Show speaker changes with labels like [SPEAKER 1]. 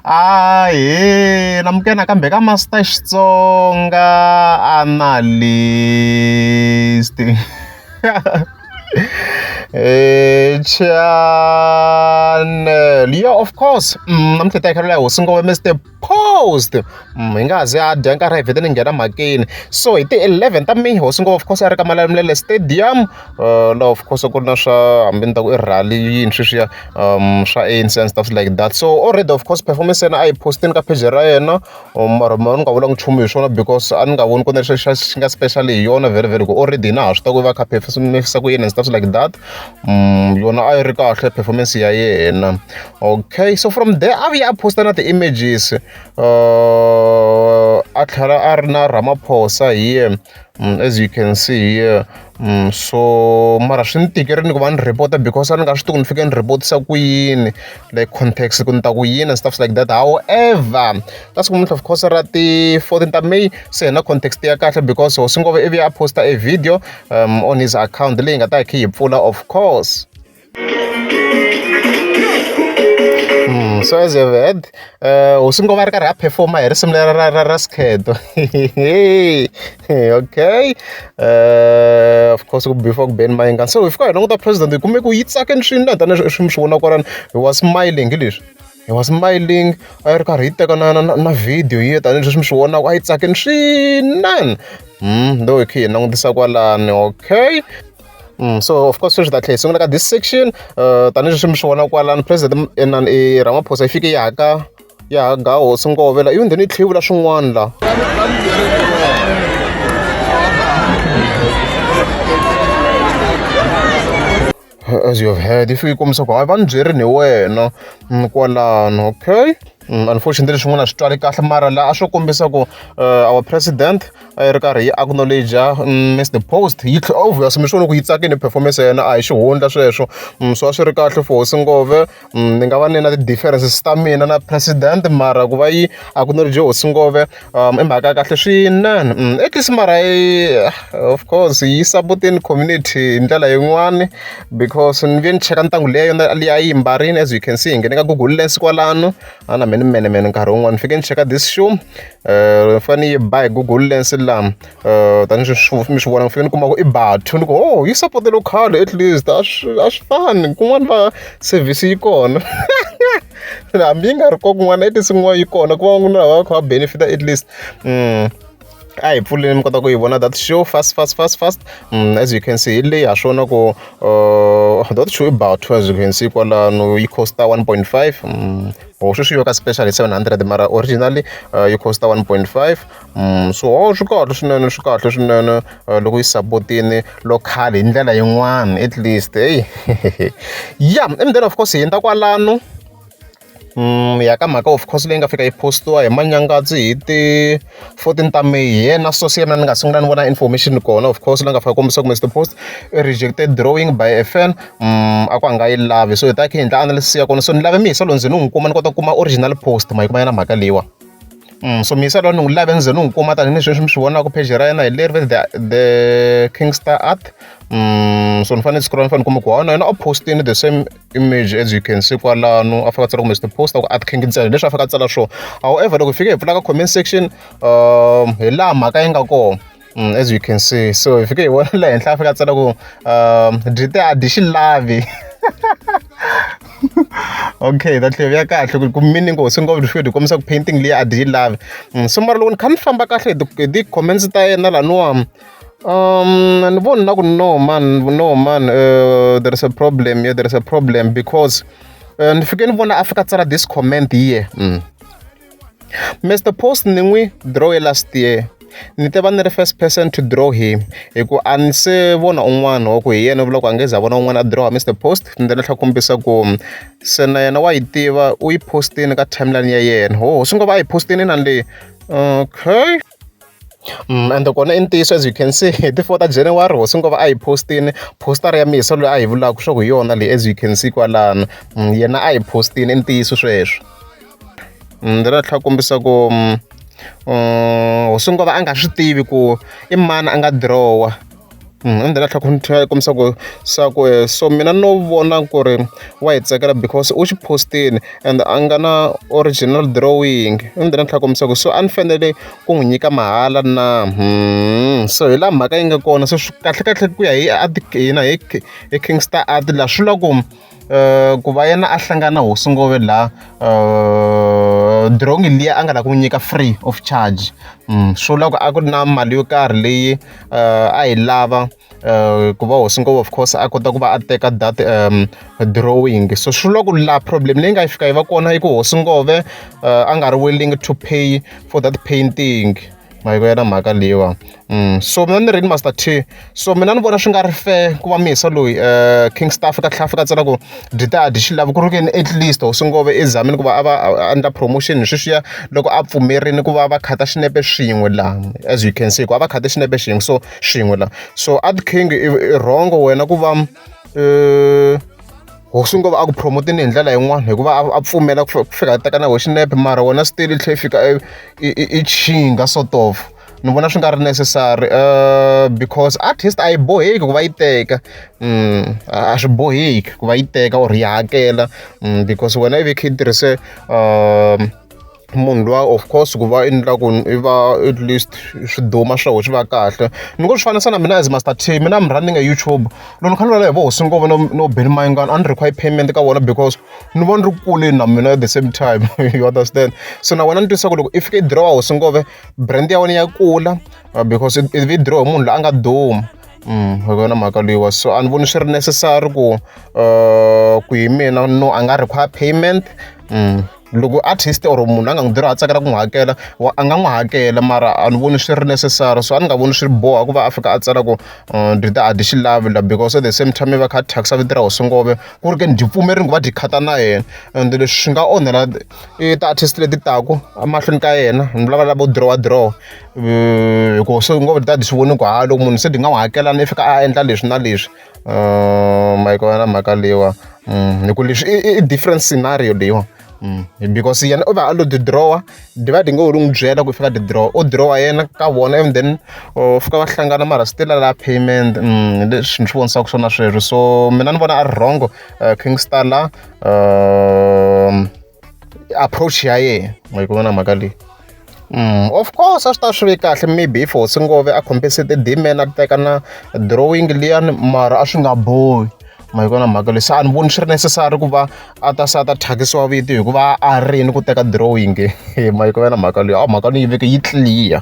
[SPEAKER 1] Ahee na muke nakambe ka Master Xitsonga Analyst channel ya of course namuntlha hi ta yi khelela hosi Mister. paused mm, hi nga ha zi a dya nkarhi hi vhete ni nghena mhakeni so hi ti-eleven ta mini hosi ngopfu of course a ri ka malamulele stadium uh, laha of course ku ri na swa hambi ni ta ku i rally yini sweswiya um swa anc and stuff like that so already of course performance yena a yi postini ka page ra yena um, mara ma ni nga vulanga nchumu hi swona because a ni nga voni ku na lexi xi nga special hi yona very very ku already na ha swi ta ku va kha phefisa ku yini and stuff like that Mm, yona a yi ri kahle performance ya yena okay so from there a vuye a posta na ti-images uh, a tlhela a ri na ramaphosa hi ye mm, as you can see here mm, so mara swi ni tikeri ni ku va ni report because a ni nga swi tiku ni fike ni reportisa ku yini like context ku ni ta ku yini and stuff like that however ta siku muntlha of course ra ti-fourteen ta may se hi na context ya kahle because hosi ngove ivi a posta a video um on his account leyi nga ta yi kha yi pfula of course Mm, so as you've heard uh, hosi ngoma ri karhi a performa hi risimu lera ra ra ra skhedo okay uh, of course ku before ku ben mayingan so hi fika hi languta president hi kume ku yi tsakeni swinene tanihi swi mi swi vona kwalani hi wa smiling hi leswi he was smiling a yi ri karhi yi teka na na na na video yi tanihileswi mi swi vonaka a yi tsakini swinene ndo hi kha hi langutisa kwalani okay Mm, so of course sweswi ta tlhela hi sungula ka this section uh, tanihileswi mi swi vona kwalani president enan e eh, ramaphosa yi fike yaka ya ha ga hosi ngovela ivi ndheni yi tlhe yi vula swin'wana la as you have heard if yi kombisa ku hayi va ni byerini hi wena mm, kwalano okay mm, unfortunately leswi n'wana swi twali kahle mara laha a swo kombisa ku eh, our president a yi ri karhi yi acknowledge mm, miss the post yi tlhe obvious mi swi vona ku yi tsakini performance ya yena a hi xihundla sweswo so a swi ri kahle for hosi ngove ni nga va ni na ti-differences ta mina na president mara ku va yi a ku nori dyohosi ngopfu i mhaka ya kahle swinene at least mara yi of course yi sapotile community hi ndlela yin'wani because ni ve ni cheka ntangu leyi yona leyi a yi mbarile as you can see hi nghene ka google lens kwalano a na me ni menemene nkarhi wun'wani ni fike ni cheka this shoe ni fanele ni yi ba hi google lens laha tanihileswi mi swi vona ni fike ni kuma ku i Batho ni ku ho yi sapote Locado at least a swi a swi fani kun'wana va service yi kona hambi yi nga ri kona kun'wana at least kun'wana yi kona ku va ku na lava va kha va benefita at least a hi pfuleni mi kota ku yi vona that show fast fast fast fast as you can see hi leyi ha swona ku that show i Batho as you can see kwalano yi costa one point five or sweswi yo ka special hi seven hundred mara originally yi costa one point five so swi kahle swinene swi kahle swinene loko yi sapotini local hi ndlela yin'wana at least heyi ya and then of course hi hundza kwalano Mm, ya ka mhaka of course leyi nga fika yi postiwa hi manyangadzi hi ti 14 ta may hi yena so se yena ni nga sungula ni vona information kona of course la nga fika kombisa kumbe the post rejected drawing by a fan mm, a ku a nga yi lavi so hi ta khe hi endla analysis ya kona so ni lave mi hi solo ndzi ni n'wi kuma ni kota ku kuma original post ma yi kuma yena mhaka leyiwa so mixer lowu ni n'wi lave ni ze ni n'wi kuma tanihi leswi mi swi vonaka page ra yena hi leri the the kingstar art mm, so ni fanele scroll ni fanele kuma ku wona yena u postini the same image as you can see kwalano a fika tsala kumbe post ku art king ntsena leswi a fika tsala swo however loko hi fike hi pfula ka comment section um hi laha mhaka yi nga kona Mm, as you can see so hi fike hi vona le henhla a fika a tsala ku um dite a dyi xi lavi okay that leyo ya kahle ku mini ngo swi ngopfu swi ku kombisa ku painting leyi a dyi yi lavi mm, so mara loko ni kha ni famba kahle hi ti-comments ta yena laniwa Um, and one not no man, no man. Uh, there is a problem here. Yeah, there is a problem because uh, ndifike ndibona afika tsala this comment here mm. Mister Post ni n'wi dirowe last year ni te va ni ri first person to draw him hi ku a ni se vona un'wana wa ku hi yena vulaka a nge za vona un'wana a dirowa Mister Post ni ta ni tlha kombisa ku se na yena wa yi tiva u yi postile ka timeline ya yena ho swi ngo va a yi postile na le okay. Ende kona i ntiyiso as you can see hi ti four ta January hosi N'kombo a hi post-ini poster-a ya Miyisa loyi a hi vulaka leswaku hi yona leyi as you can see kwalano. Yena a hi post-ini i ntiyiso sweswo. Ni tlhela ni tlhela ni kombisa ku hosi N'kombo a nga swi tivi ku i mani a nga dirowa. Ende la tlhela ku tlhela kombisa ku swa ku so mina no vona ku ri wa yi tsakela because u xi post-ini and a nga na original drawing ni tlhela ni kombisa ku so a ni fanele ku n'wi nyika mahala na so hi laha mhaka yi nga kona se swi kahlekahle ku ya hi art hina hi hi King Star art la swi vula ku. eh, ku va yena a hlangana hosi ngove laha eh, drongi liya a nga la ku nyika free of charge mm, swo loko a ku ri na mali yo karhi leyi eh, a yi lava Eh, ku va hosi ngopfu of course a kota ku va a teka that um, drawing so swi vula ku la problem leyi nga yi fika yi va kona i ku hosi ngove uh, a nga ri willing to pay for that painting ma yi ku ya na mhaka leyiwa mm. so mina ni rini master t so mina ni vona swi nga ri fair ku va mihisa loyi um king staff ka tlhafi ka tsena ku dita dyi xi lavi ku ri keni at least hosi ngove ezamini ku va a va endla promotion hi sweswiya loko a pfumerini ku va va khata xinepe swin'we laha as you can see ku a va khate xinepe xin'we so swin'we laha so ad king i rhongo wena ku va um hosi ngo va a ku promote-ni hi ndlela yin'wana hikuva a pfumela ku fika a teka na hoxinepe mara wona swi tele tlhe fika i chinga sort of ni vona swi nga ri necessary uh, because artist a yi boheki ku va yi teka mm, a swi boheki ku va yi teka or yi hakela mm, because wena i ve kha yi tirhise um munhu luya of course ku va endlaku i va at least swiduma swa ho swi va kahle ni ngo swi fanisa na mina as master t mina i'm running a youtube loko ni kha ni lwala hi vo hosi ngova no no beni mayingana a ni require payment ka vona because ni vona ri kuleni na mina at the same time you understand so na wena ni twisa ku loko i fika i dirowa hosi ngove brand ya wena ya kula uh, because i vi dirowa hi munhu loyi a nga duma Mm, hi yona mhaka leyiwa so a ni voni swi ri necessary ku uh, ku hi mina no a nga require payment mm. loko artist or munhu a nga n'wi dirha a tsakela ku n'wi hakela a nga n'wi hakela mara a ni voni swi ri necessary so a ni nga voni swi ri boha ku va a fika a tsala ku uh, ndzi ta a dyi xilavila because at the same time va kha thyakisa vito ra hosingove ku ri ke ni dyi pfumerini ku va dyi khata na yena and leswi swi nga onhela i ta artist leti taku emahlweni ka yena ni lava lavo dirowa dirowa uh, hikuva hosingove ti ta dyi swi voni ku ha loko munhu se dyi nga n'wi hakelana i fika a endla leswi na leswi ma yi kona mhaka leyiwa hi ku leswi i i different scenario leyiwa because yena u va a lo ti dirowa divide ngo ho ri n'wi byela ku i fika ti dirowa o dirowa yena ka vona and then u fika va hlangana mara still a lava payment leswi ni swi vonisaka swona sweswo so mina ni vona a ri wrong King Star la approach ya yena ma yi ku vona mhaka leyi. of course a swi ta swi ve kahle maybe if hosi ngove a khombise ti-demand a teka na drawing liyani mara a swi nga bohi ma yi vona mhaka leyi se a ni voni swi ri necessary ku va a ta se a ta thyakisiwa vito hikuva a ri ni ku teka drawing ma yi ku va na mhaka leyi a mhaka ni yi veke yi clear.